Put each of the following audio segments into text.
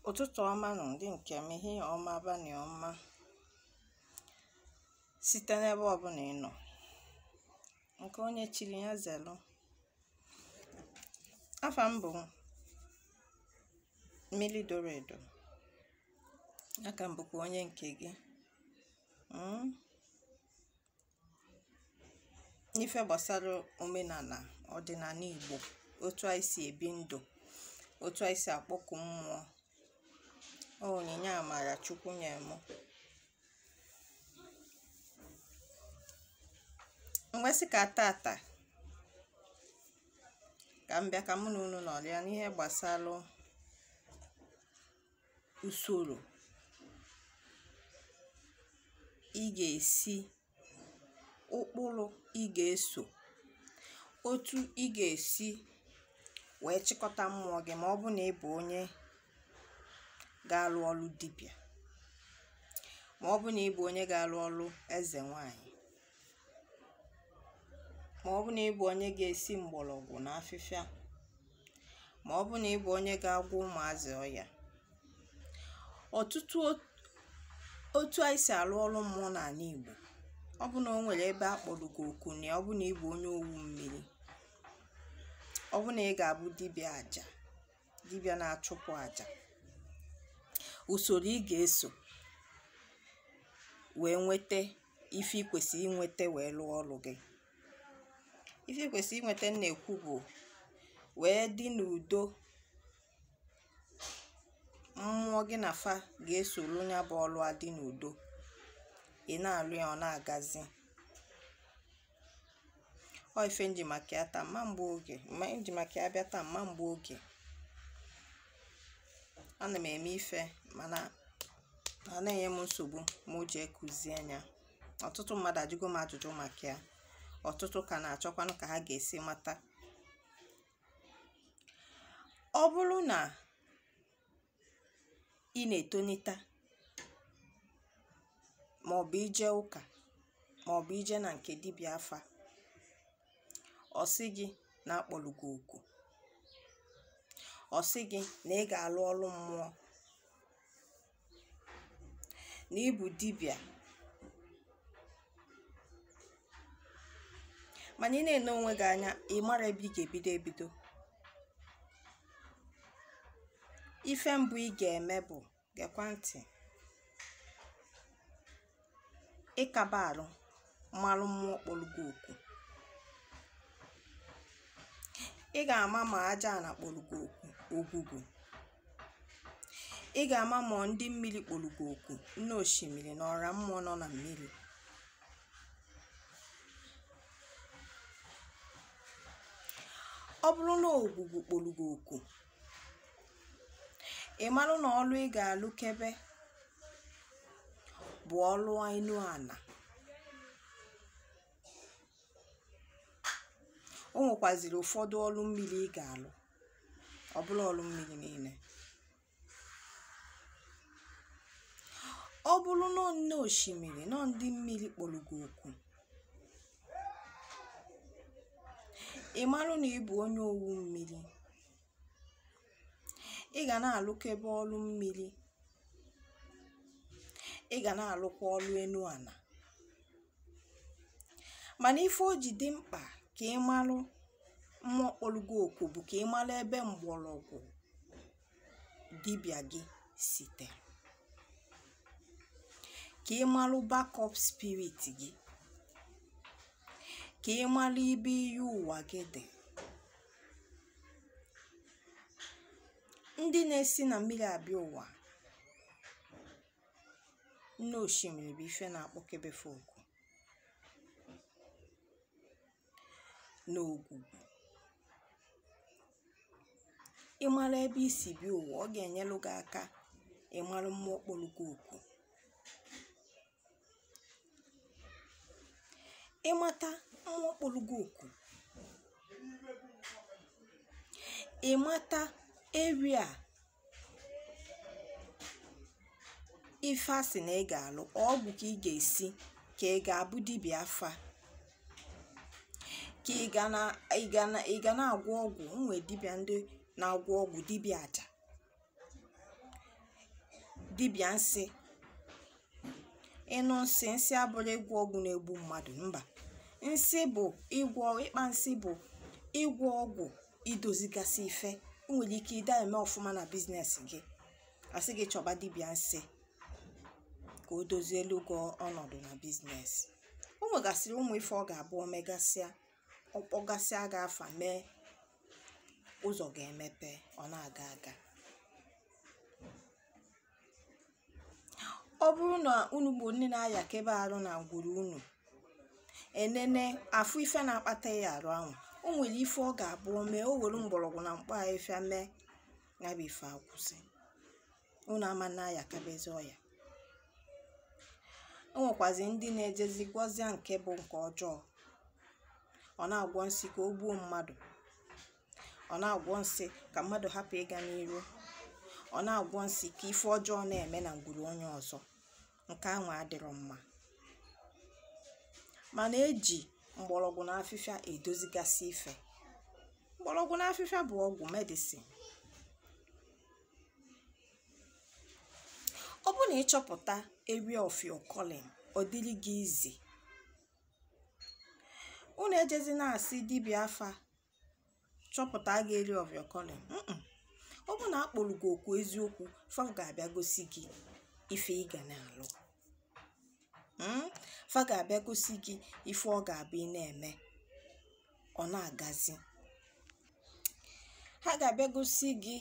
ụtụtụ ọma nụ ndị nke m ehihie ọma abanị ọma site n'ebe ọbụla ị nọ nke onye chiri ya zelu afa m bụ mmiri doro edo aka m bụkwa onye nke gị Mm. n'ife gbasara omenala ọdịnala Igbo otu anyị si ebi ndụ otu anyị si akpọku mmụọ ọ onyinye amara Chukwu nye m m wee sị ka tata ka m bịa ka mụ na unu nọrịa n'ihe gbasara usoro ị ga-esi ụkpụrụ ị ga-eso otu ị ga-esi wee chịkọta mmụọ gị ma ọ bụ na ị bụ onye ga-alụ ọlụ dibịa ma ọ bụ na ị bụ onye ga-alụ ọlụ eze nwanyị ma ọ bụ na ị bụ onye ga-esi mgbọrọgwụ na afịfịa ma ọ bụ na ị bụ onye ga-agwọ ụmụazị ọya ọtụtụ otu anyị si alụ ọrụ mmụọ n'anị Igbo ọ bụ na o nwere ebe a kpọrọ gị oku na ọ bụ na ị bụ onye owu mmiri ọ bụ na ị ga-abụ dibịa aja dibịa na-achụpụ aja usoro ị ga-eso wee nweta ife ị kwesịrị inweta wee lụọ ọrụ gị ife ị kwesịrị inweta m na-ekwu bụ wee dị n'udo mmụọ gị na fa ga-esoro ya bụ ọrụ adị n'udo ị na-alụ ya ọ na-agazi ọ ife m ji maka ya taa ama m egbu oge m ji maka ya bịa taa ama m egbu oge ana m eme ife mana ọ na-enye m nsogbu ma o ji ekụzie anya ọtụtụ mmadụ ajụgo m ajụjụ maka ya ọtụtụ ka na-achọkwanụ ka ha ga-esi mata ọ bụrụ na ị na-etonita ma ọ bụ i je ụka ma ọ bụ i je na nke dibịa afa ọ sị gị na a kpọrọ gị oku ọ sị gị na ị ga-alụ ọrụ mmụọ na ị bụ dibịa mana ị na-ene onwe gị anya ị mara ebe ị ga-ebido ebido ife mbụ ị ga-eme bụ gekwa ntị ịkaba arụ malụ mmụọ kpọrọ gị oku ị ga-ama ma aja ana kpọrọ gị oku ogwugwu ị ga-ama ma ọ ndị mmiri kpọrọ gị oku nne osimiri na ọra mmụọ nọ na mmiri ọ bụrụ na ogwugwu kpọrọ gị oku ị marụ na ọlụ ị ga-alụkebe bụ ọlụ enu ana o nwekwaziri ụfọdụ ọlụ mmiri ị ga-alụ ọ bụrọ ọrụ mmiri niile ọ bụrụ na nne osimiri na ndị mmiri kpọrọ gị oku ị marụ na ị bụ onye owu mmiri ị ga na-alụkebe ọrụ mmiri ị ga na-alụkwa ọrụ enu ana mana ife o ji dị mkpa ka ị marụ mmụọ kpọrọ gị oku bụ ka ị mara ebe mgbọrọgwụ dibịa gị site ka ị mara backup spirit gị ka ị mara ebe iyi ụwa gị dị ndị na-esi na mmiri abịa ụwa nne osimiri bụ ife na-akpọkebe fa oku na ogwugwu ị mara ebe i si bịa ụwa ọ ga-enyelụ gị aka ịmara mmụọ kpọrọ gị oku ịmata mmụọ kpọrọ gị oku ịmata area ife a sị na ị ga-alụ ọgwụ ka ị ga-esi ka ị ga-abụ dibịa afa ka ị ga na ị ga na ị ga na-agwọ ọgwụ nwere dibịa ndị na-agwọ ọgwụ dibịa aja dibịa nsị ị nụ nsị nsị abụrọ ịgwọ ọgwụ na-egbu mmadụ mba nsị bụ ịgwọ ịkpa nsị bụ ịgwọ ọgwụ idozigasị ife o nwere ike ị da-eme ọfụma na biznes gị a sị gị chọba dibịa nsị ka o dozielu gị ọnọdụ na biznes o nwegasịrị ụmụ ife ọ ga-abụ o megasịa ọ kpọgasịa gị afa mee ụzọ ga-emepe ọ na-aga aga ọ bụrụ na unu bụ ndị na-ayakebe arụ na ngwuru unu enene afụ ife na-akpata ịya arụ anwa o nwere ife ọ ga-abụ o mee o were mgbọrọgwụ na mkpa afịfịa mee ya bụ ife akwụsị unu ama na-ayakebezi ọya o nwekwazi ndị na-ejezi gwọzịa nke bụ nke ọjọọ ọ na-agwọ nsi ka o gbuo mmadụ ọ na-agwọ nsi ka mmadụ hapụ ịga n'iru ọ na-agwọ nsi ka ife ọjọọ na-eme na ngwuru onye ọzọ nke ahụ adịrọ mma mana eji mgbọrọgwụ na afịfịa edozigasị ife mgbọrọgwụ na afịfịa bụ ọgwụ medicine ọ bụ na ịchọpụta area of your calling ọ dịrị gị easy unu ejezi na-asị dibịa afa chọpụta gị area of your calling Mm-mm. ọ bụ na akpọrọ gị oku eziokwu fa ga-abịa gosi gị ife ị ga na-alụ Mm? fa ga-abịa gosi gị ife ọ ga-abụ ị na-eme ọ na-agazi ha ga-abịa gosi gị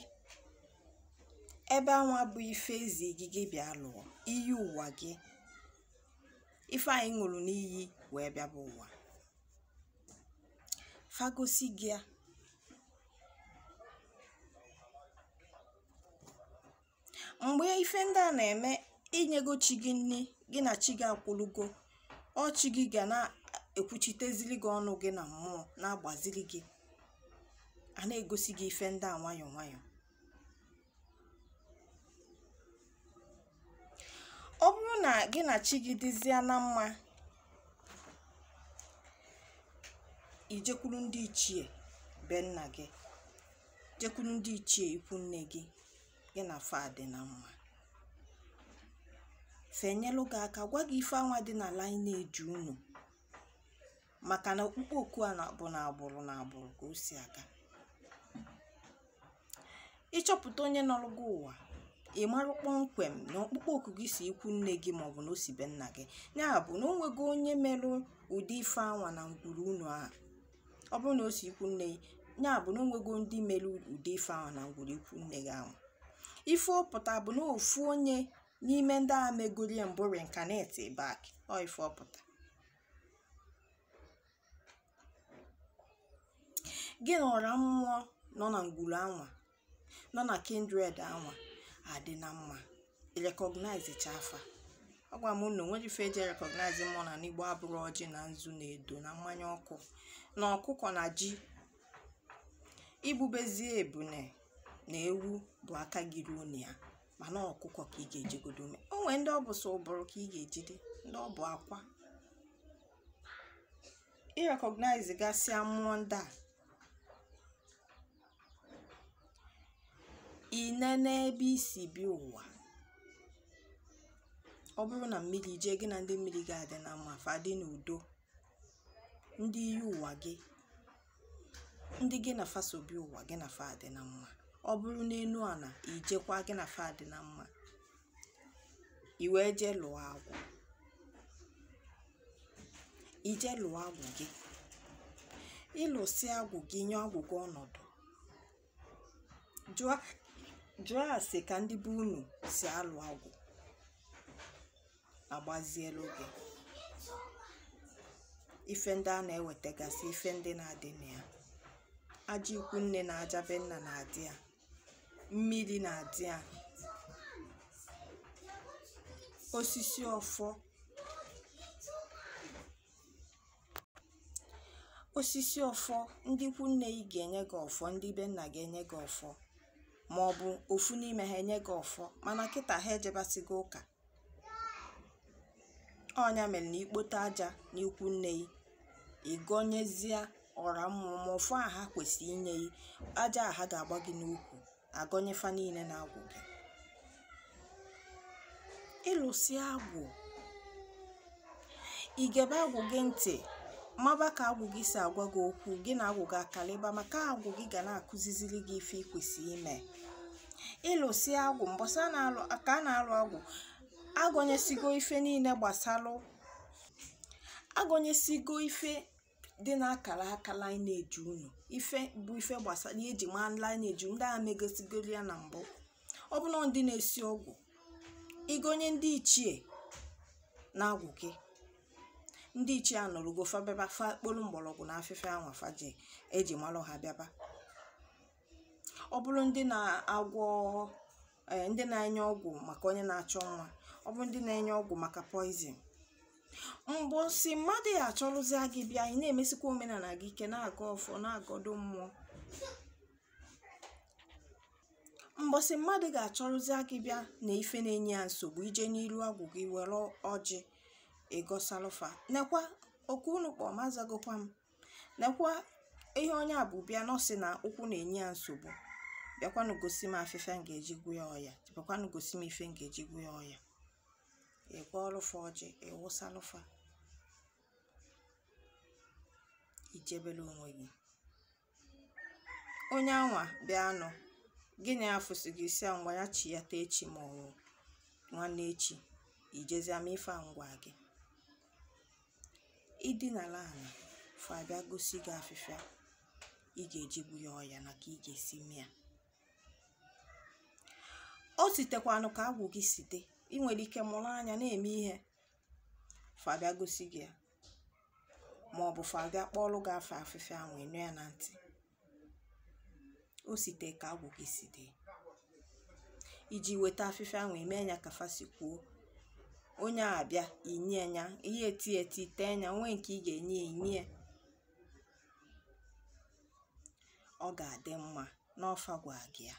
ebe anwa bụ ife ezi gị gị bịa lụọ iyi ụwa gị ife anyị ṅụrụ n'iyi wee bịabe ụwa fa gosi gị ya mgbe ife ndị a na-eme inyego chi gị nri gị na chi gị akwụlugo ọ chi gị ga na-ekwuchitezili gị ọnụ gị na mmụọ na-agbaziri gị a na-egosi gị ife ndị a nwayọọ nwayọọ ọ bụrụ na gị na chi gị dịzie na mma i jekwuru ndị ichie be nna gị jekwuru ndị ichie ikwu nne gị gị na fa dị na mma fa enyelụ gị aka gwa gị ife anwa dị na lineage unu maka na okpukpe oku a na-abụ na agbụrụ na agbụrụ ka o si aga ịchọpụta onye nọrọ gị ụwa ị marụ kpọmkwem na okpukpe oku gị si ikwu nne gị maọbụ na o si be nna gị ya bụ na o nwego onye merụ ụdị ife anwa na ngwuru unu a ọ bụrụ na o si ikwu nne ya bụ na o nwego ndị mere ụdị ife anwa na ngwuru ikwu nne gị ahụ ife ọ pụta bụ na ofu onye n'ime ndị a megorie mbụ reincarnate back ọ ife ọ pụta gị na ọra mmụọ nọ na ngwuru anwa nọ na kindred anwa adị na mma recognize chaa fa agwa m na o nwerọ ife eji recognize mmụọ n'ana igbo abụrụ ọjị na nzu na edo na mmanya ọkụ na ọkụkọ na ji igbubezie ebune na ewu bụ aka gị ruo na ya mana ọkụkọ ka ị ga-ejigodo ume o nwere ndị ọ bụ sọ ụbụrụ ka ị ga-ejide ndị ọ bụ akwa ị recognize gasịa mmụọ ndị a niine n'ebe i si bịa ụwa ọ bụrụ na mmiri jee gị na ndị mmiri ga-adị na mma fa dị n'udo ndị iyi ụwa gị ndị gị na fa so bịa ụwa gị na fa dị na mma ọ bụrụ n'enu ana i jekwa gị na fa dị na mma i wee jee lụọ agwụ i jee lụọ agwụ gị ị lụsịa agwụ gị nye agwụ gị ọnọdụ jụọ ase ka ndị be unu si alụ agwụ a gbazielu gị ife ndị a na-ewetagasị ife ndị na-adị na ya aja ikwu nne na aja be nna na-adị ya mmiri na-adị ya osisi ọfọ osisi ọfọ ndị ikwu nne gị ga-enye gị ọfọ ndị be nna ga-enye gị ọfọ ma ọ bụ ofu n'ime ha enye gị ọfọ mana kịta ha ejebasịgo ụka ọ nya mere na i kpote aja n'ikwu nne gị ị gọnyezie ọra mmụọ ma ọfọ a ha kwesịrị inye gị aja a ha ga-agba gị n'ukwu a gọnye fa niile n'agwụ gị ị lụsịa agwụ i gebe agwụ gị ntị maba ka agwụ gị si agwa gị okwu gị na agwụ gị akalịba maka agwụ gị ga na-akụziziri gị ife i kwesị ime ị lụsịa agwụ mbọsị a ka a na-alụ agwụ a gọnyesịgo ife niile gbasalụ a gọnyesịgo ife dị n'akara aka lineage unu ife bụ ife gbasara ihe e ji maa lineage ndị aha megosigoro ya na mbụ ọ bụrụ na ndị na-esi ọgwụ ị gọnye ndị ichie n'agwụ gị ndị ichie anọrọgo fa bịaba fa kpolu mgbọrọgwụ na afịfịa anwa fa ji e ji malụ ha bịaba ọ bụrụ ndị na-agwọ eh, ndị na-enye ọgwụ maka onye na-achọ nwa ọ bụrụ ndị na-enye ọgwụ maka poison mbọsị mmadụ ya-achọrụzia gị bịa ị na-emesikwa omenana gị ị ka na-agọ ọfọ na-agọdo mmụọ mbọsị mmadụ ga-achọrụzi gị bịa na ife na-enye ya nsogbu i jee n'iru agwụ gị were ọjị ị gọsalụ fa nekwa oku unu kpọ m azagokwa m nekwa ihe onye a bu bịa na ọ sị na ụkwụ na-enye ya nsogbu bịakwanụ gosi m afịfịa m ga-eji gwọ ya ọya bịakwanụ gosi m ife m ga-eji gwọ ya ọya ị gwọọlụ fa ọjị ị wụsalụ fa i jebere onwe gị onye anwa bịanụ gị na ya fụsị gị sị ya ngwa ya chiata echi ma ọ bụ nwanne echi i jezie mee ife a m gwa gị i dinala ala fa abịa gosi gị afịfịa ị ga-eji gwọ ya ọya na ka ị ga-esi mee ya o sitekwanụ ka agwụ gị si dị ị nwere ike mụrụ anya na-eme ihe fa abịa gosi gị ya ma ọ bụ fa abịa kpọọlụ gị afa afịfịa ahụ ị nụ ya na ntị o site ka agwụ gị si dị i jee weta afịfịa ahụ i mee nya ka fa si kwuo onye a abịa i nye nya ihe ete ete tee nya o nwee nke ị ga-enye enye ọ ga-adị mma na ọ fa gwa gị ya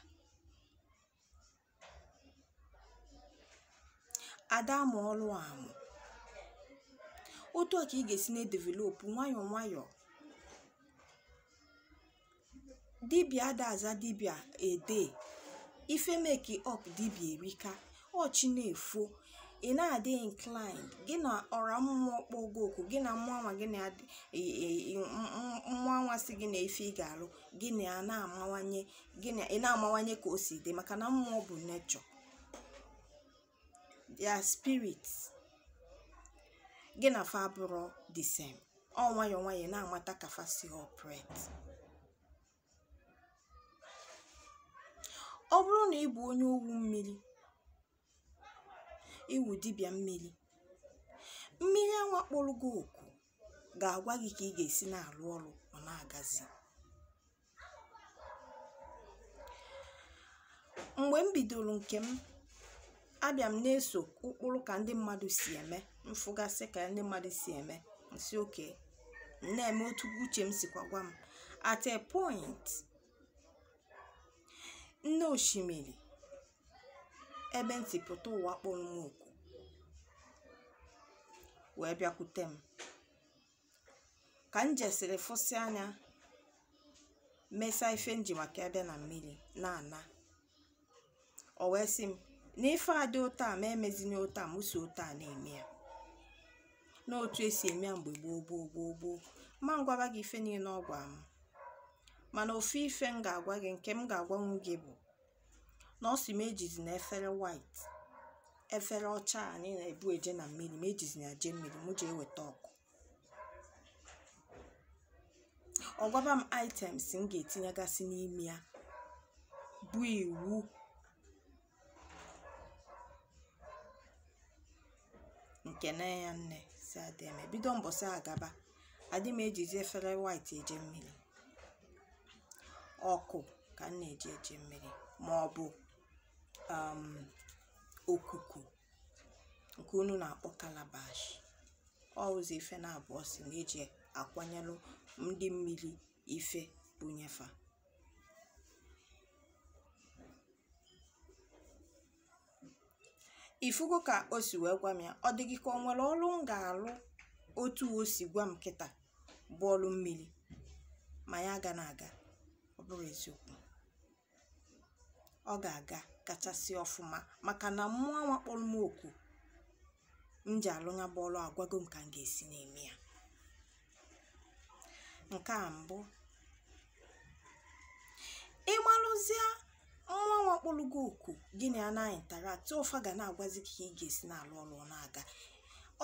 ada amụ ọlụ amụ otu a ka ị ga-esi na-edevelopụ nwayọọ nwayọọ dibia ada aza dibia ede ife make up dibia erika ọ chi na-efo ị na-adị inclined gị na ọra mmụọ kpọọ gị oku gị na mmụọ anwa gị na mmụọ anwa sị gị na ife ị ga-alụ gị na ya na-amawanye gị na ya na-amawanye ka o si dị maka na mmụọ bụ nature they are spirit gị na fa bụrụ the same ọ nwayọọ nwayọọ na-amata ka fa si operate ọ bụrụ na ị bụ onye owu mmiri ị wụ dibịa mmiri mmiri anwa kpọrọ gị oku ga-agwa gị ka ị ga-esi na-arụ ọrụ ọ na-agazi mgbe m bidoro nke m abịa m na-eso ụkpụrụ ka ndị mmadụ si eme m fụgasị ka ndị mmadụ si eme m sị okay m na-eme otu uche m sikwa gwa m at a point nne osimiri ebe m si pụta ụwa kpọrọ m oku wee bịakwute m ka m jesịrị fụsịa nya mesịa ife m ji maka ebe na mmiri na-ana o wee sị m na ife adị otu a m emezina otu a m so otu a na-eme ya n'otu e si eme ya mgbe gboo gboo gboo gboo m ma-agwaba gị ife niile ọ gwara m mana ofu ife m ga-agwa gị nke m ga-agwanwu gị bụ na ọ sị m ejizina efere white efere ọcha anyị na-ebu eje na mmiri m ejizina eje mmiri m jee weta ọkụ ọ gwaba m items m ga-etinyegasị n'ime ya bụ iwu m kene ya nne sị ya deeme bido mbọsị a gaba adị m ejizi efere white eje mmiri ọkụ ka m na-eji eje mmiri ma ọ bụ um, okuku nke unu na-akpọ calabash ọ ụzọ ife naabọ ọ sị na e ji akwanyelụ ndị mmiri ife bunye fa ị fụgo ka o si wee gwa m ya ọ dị gị ka o nwere ọrụ m ga-alụ otu o si gwa m kịta bụ ọrụ mmiri ma ya agana aga ọ bụrọ eziokwu ọ ga-agakachasị ọfụma maka na mmụọ anwa kpọrọ m oku m ji alụ ya bụ ọrụ agwago m ka m ga-esi na-eme ya nke mbụ ị malụzie mmụọ anwa kpọrọ gị oku gị na ya na-interact fa ga na-agwazi gị ka ị ga-esi na-alụ ọrụ ọ na-aga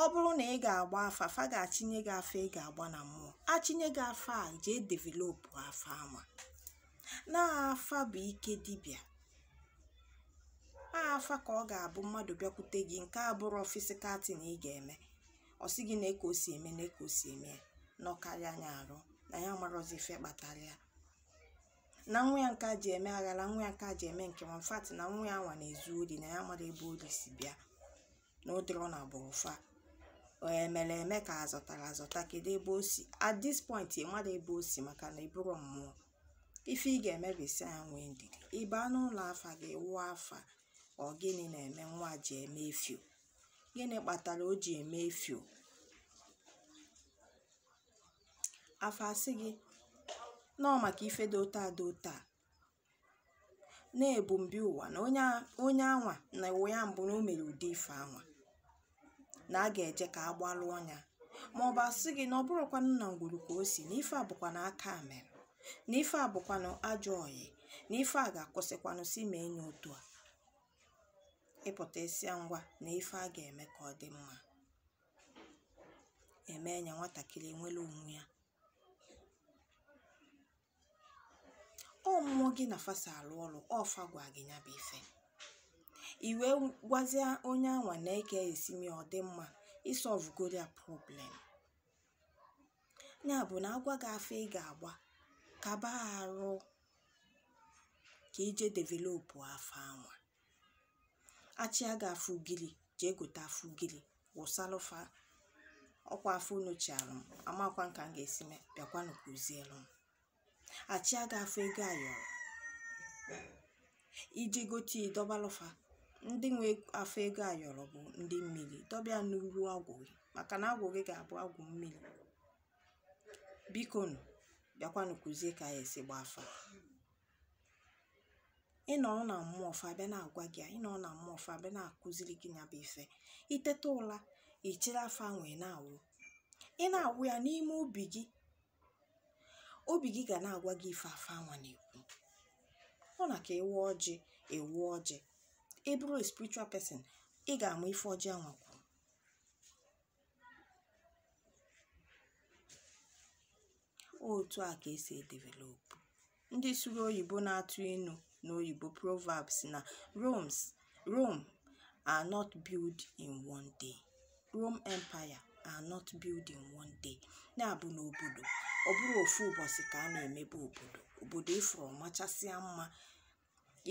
ọ bụrụ na ị ga-agba afa fa ga-achịnye gị afa ị ga-agba na mmụọ achịnye gị afa a jee developụ afa a ma na afa bụ ike dibịa afa ka ọ ga-abụ mmadụ bịakwute gị nke a bụrụ physical thing ị ga-eme ọ sị gị na ka o si eme na ka o si eme ya na ọkarịa anya arụ na ya marọzi ife kpatara ya na nwa ya nke a ji eme aghara nwa ya nke a ji eme nke nwa fati na nwa ya nwa na-ezu ori na ya amarọ ebe ori si bịa na ọ dịrọ na agbụrụ fa e mere eme ka a zọtara azọta kedu ebe o si at this point ị marọ ebe o si maka na ị bụrọ mmụọ ife ị ga-eme bụ ị sị ya nwee ndidi ị baa n'ụlọ afa gị wụọ afa ọ gịnị na-eme nwa ji eme efio gịnị kpatara o ji eme efio afa asị gị na ọ maka ife dị otu a dị otu a na-ebu mbi ụwa na onye anwa na ụwa ya mbụ na o mere ụdị ife anwa na a ga-eje ka a gbalụ ọnya ma ọ bụ asị gị na ọ bụrọkwanụ na ngwuru ka o si na ife a bụkwanụ aka mere na ife a bụkwanụ ajọ ọyị na ife a ga-akwụsịkwanụ sị mee nya otu a ị pụta ị sị ya ngwa na ife a ga-eme ka ọ dị mma e mee nya nwatakịrị enwere onwe ya ọ mmụọ gị na fa so alụ ọlụ ọ fa gwa gị ya bụ ife i wee gwazie onye anwa na eke esimi ọ dị mma ịsọvugoro ya problem ya bụ na agwa gị afa ị ga-agba kaba arụ ka i je developụ afa anwa a chịa gị afa ugiri jee gote afa ugiri wụsalụ fa ọkwa afa unu chiarụ m amakwa m ka m ga-esi mee bịakwanụ kụzielu m a chịa gị afa ego ayọrọ i jee gote dọbalụ fa ndị nwe afa ego ayọrọ bụ ndị mmiri dọbe ya n'uru agwụ gị maka na agwụ gị ga-abụ agwụ mmiri bikonụ bịakwanụ kụzie ka ya esi gba afa ị nọ na mmụọ fa abịa na-agwa gị ya ị nọ na mmụọ fa abịa na-akụziri gị ya bụ ife i teta ụla i chịrị afa anwa ị na-awụ ị na-awụ ya n'ime obi gị obi gị ga na-agwa gị ife afa anwa na-ekwu ọ na ka ị wụọ ọjị ị wụọ ọjị ị bụrụ a spiritual person ị ga-ama ife ọjị anwa kwuru otu a ka esi edevelopụ ndị sụrụ oyibo na-atụ inu n'oyibo proverbs na rome rome are not built in one day rome empire are not built in one day ya bụ na obodo ọ bụrọ ofu ụbọchị ka a na-emebe obodo obodo ị fụrụ ọ machasịa mma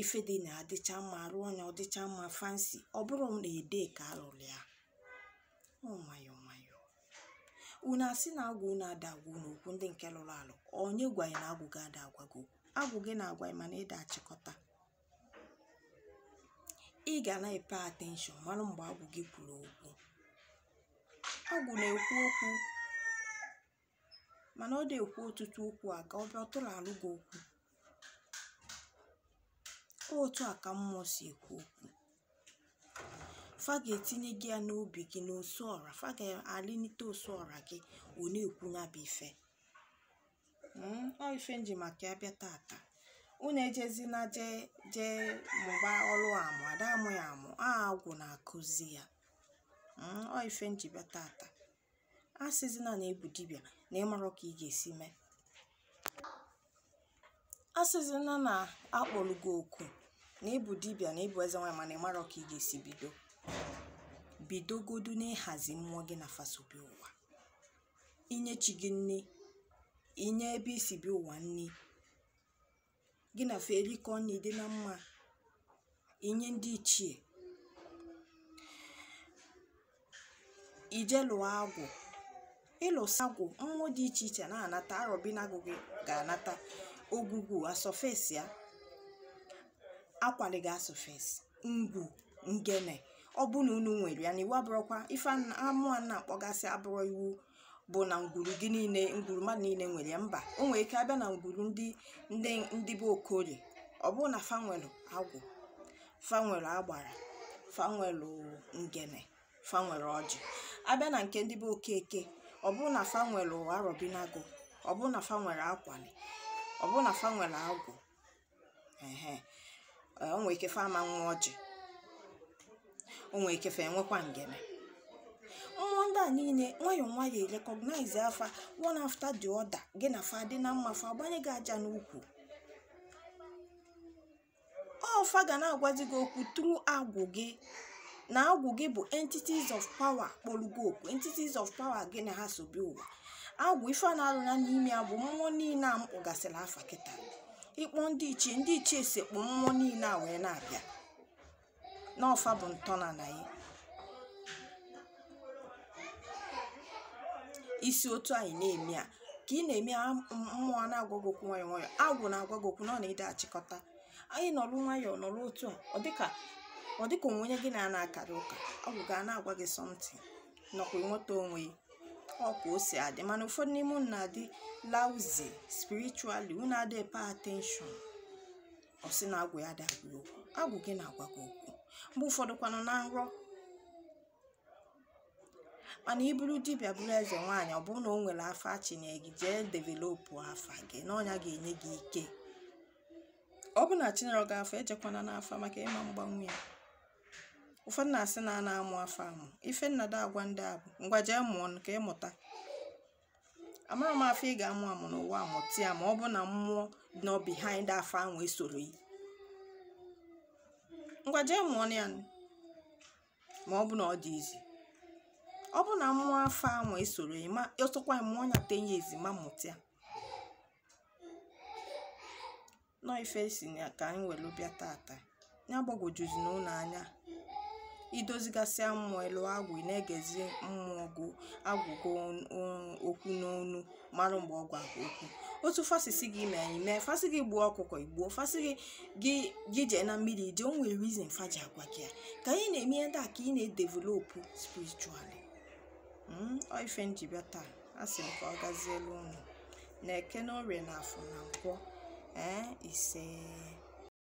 ife dị na-adịcha mma arụọ nya ọ dịcha mma fancy ọ bụrọ na a day ka alụrụ ya ọ nwayọ nwayọ unu asị na agwụ unu ada agwa unu okwu ndị nke lụrụ alụ onye gwa ya na agwụ gị ada agwa gị okwu agwụ gị na-agwa ya mana ị da achịkọta ị ga na-apay attention mara mgbe agwụ gị kwuru okwu agwụ na-ekwu okwu mana ọ da ekwu ọtụtụ okwu a ka ọ bịa ọtụrụ alụ gị okwu otu a ka mmụọ si ekwu okwu fa ga-etinye gị ya n'obi gị n'ose ọra fa ga-alịnite ose ọra gị ọ na-ekwu ya bụ ife Mm, ọ ife m ji maka ya bịa tata unu ejezina jee jee mụba ọrụ amụ ada amụ ya amụ ọ agwụ na-akụzi ya Mm, ọ ife m ji bịa tata a sịzina na ị bụ dibịa na ị marọ ka ị ga-esi mee a sịzina na akpọrọ gị oku na ị bụ dibịa na ị bụ eze nwaanyị mana ị marọ ka ị ga-esi bido bidogodu n'ịhazi mmụọ gị na fa so bịa ụwa inye chi gị nni inye ebe i si bịa ụwa nni gị na fa erikọ nri dị na mma inye ndị ichie ije lụọ agwụ ịlụsị agwụ mmụọ dị iche iche na-anata arọbinagụ gị ga-anata ogwugwu asurface ya akwali gị asurface ngwu ngene ọ bụ na unu nwere ya na iwu abụrọkwa ife a mụwa na-akpọgasị abụrọ iwu bụ na ngwuru gị niile ngwuru mmadụ niile nwere ya mba o nwere ike a bịa na ngwuru ndị ndị ndị be okorie ọ bụrụ na fa nwelu agwụ fa nwelu agbara fa nwelu ngene fa nwelu ọjị a bịa na nke ndị be okeke ọ bụrụ na fa nwelu arọbinagụ ọ bụrụ na fa nwelu akwali ọ bụrụ na fa nwelu agwụ ehe o nwere ike fa ama nwe ọjị o nwere ike fa enwekwa ngene mmụọ ndị a niile nwayọọ nwayọọ recognize fa one after the other gị na fa dị na mma fa agbanye gị aja n'ukwu ọ fa ga na-agwazi gị okwu through agwụ gị na agwụ gị bụ entities of power kpọlụ gị oku entities of power gị na ha so bịa ụwa agwụ ife a na-alụnye n'ime ya bụ mmụọ niile a m kpọgasịrị afa kịta ị kpọọ ndị ichie ndị ichie esekpụ mmụọ niile a wee na-abịa na ọ fa bụ ntọnana ya isi otu anyị na-eme a ka ị na-eme a mmụọ a na-agwa gị okwu nwayọọ nwayọọ agwụ na-agwa gị okwu na ọ na ị dị achịkọta anyị nọrụ nwayọọ nọrụ otu a ọ dịka ọ dịka o nwe onye gị na a na-akarị ụka agwụ ga na-agwa gị something na ọ ka ị nweta onwe gị ọ ka o si adị mana ụfọdụ n'ime unu na-adị lousy spiritually unu adịghị pay attention ọ sị na agwụ ya adị agwa ya okwu agwụ gị na-agwa gị okwu mgbe ụfọdụ kwanụ na nrọ mana ị bụrụ dibịa bụrụ eze nwaanyị ọ bụrụ na o nwere afa chi nye gị jee developụ afa gị na ọ nya ga-enye gị ike ọ bụ na chi enyerọ gị afa ejekwana n'afa maka ị ma agbanwu ya ụfọdụ na-asị na a na-amụ afa amụ ife m na-adị agwa ndị a bụ ngwa jee mụọ ka ị mụta amarọ m afa ị ga-amụ amụ n'ụwa a mụta ya ma ọ bụ na mmụọ nọ behind afa ahụ esoro yi ngwa jee mụọ ya ma ọ bụ na ọ dị easy ọ bụ na mmụọ afa ahụ esoro yi ma ị chọkwa mụọ nya ten years ị ma amụta ya na ọ ife si na ka anyị welu bịa tata ya agbagwojuzina unu anya i dozigasịa mmụọ ị lụọ agwụ ị na-egezi mmụọ gị agwa gị okwu n'ọnụ mara mgbe ọ gwa gị okwu otu fa si sị gị mee ị mee fa sị gị gbuo ọkụkọ i gbuo fa sị gị gị gị jee na mmiri i jee o nwere reason fa ji agwa gị ya ka anyị na-eme ihe ndị a ka ị na-edevelopụ spiritually ọ ife m ji bịa taa a sị m ka ọ gazielu unu na eke na orie na afọ na nkwọ ee ise